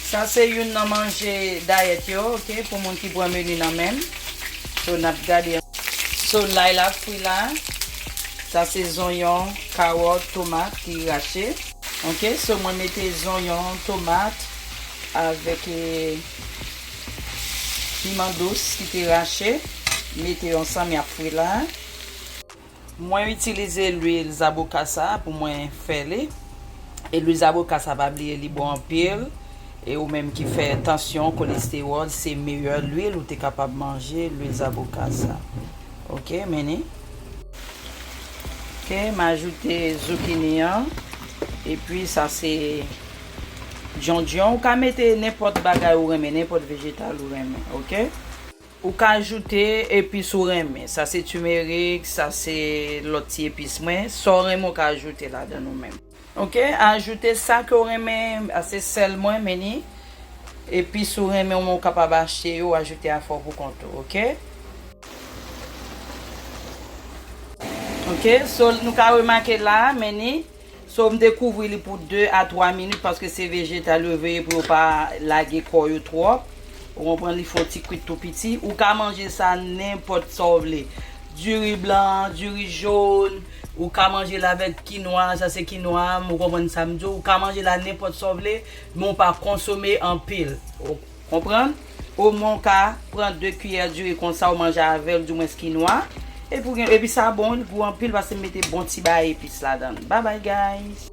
Sa se youn nan manje dayèt yo ok pou moun ki pran menu nan menm so nap gade. So lay la fri la. Sa se zonyon, kawòt, tomat ki rache. Ok so mwen mete zonyon, tomat avèk. Piman dous ki te rache, mete yo ansanm yap fri la. Mwen itilize lwil zaboka sa pou mwen fè li. E lwil zaboka sa pa bliye li bon anpil. E ou menm ki fè tansyon, kolestewòl, se meyè lwil ou te kapab manje, lwil zaboka sa. Ok, meni. Ok, m ajoute zokini an. E pi sa se. Djondjon ou ka mete nenpòt bagay ou renmen nenpòt vejetal ou renmen ok. Ou ka ajoute epis ou renmen sa se timerik sa se lòt ti epis mwen sa ou renmen ou ka ajoute ladann ou menm ok ajoute sa ke ou renmen a se sèl mwen men ni epis ou renmen ou menm ou kapab achte yo ou ajoute afè ou pou kont ou ok. Ok so nou ka remake la men ni So m te kouvri li pou 2 a 3 minit paske se vejetal yo veye pou yo pa lage kò yo twòp ou konprann li fon ti kwit tou piti ou ka manje sa nenpòt sa w vle diri blan diri jòn ou ka manje l avèk kinwa sa se kinwa m ou konprann sa m di w ou ka manje l a nenpòt sa w vle men w pa konsome anpil. Konprann? Omwen w ka pran 2 kiyè diri konsa w manje avè l di mwens kinwa, epi w gen, epi sa bon wi l gou anpil paske m mete bon ti baay epis ladan l. Babay guys!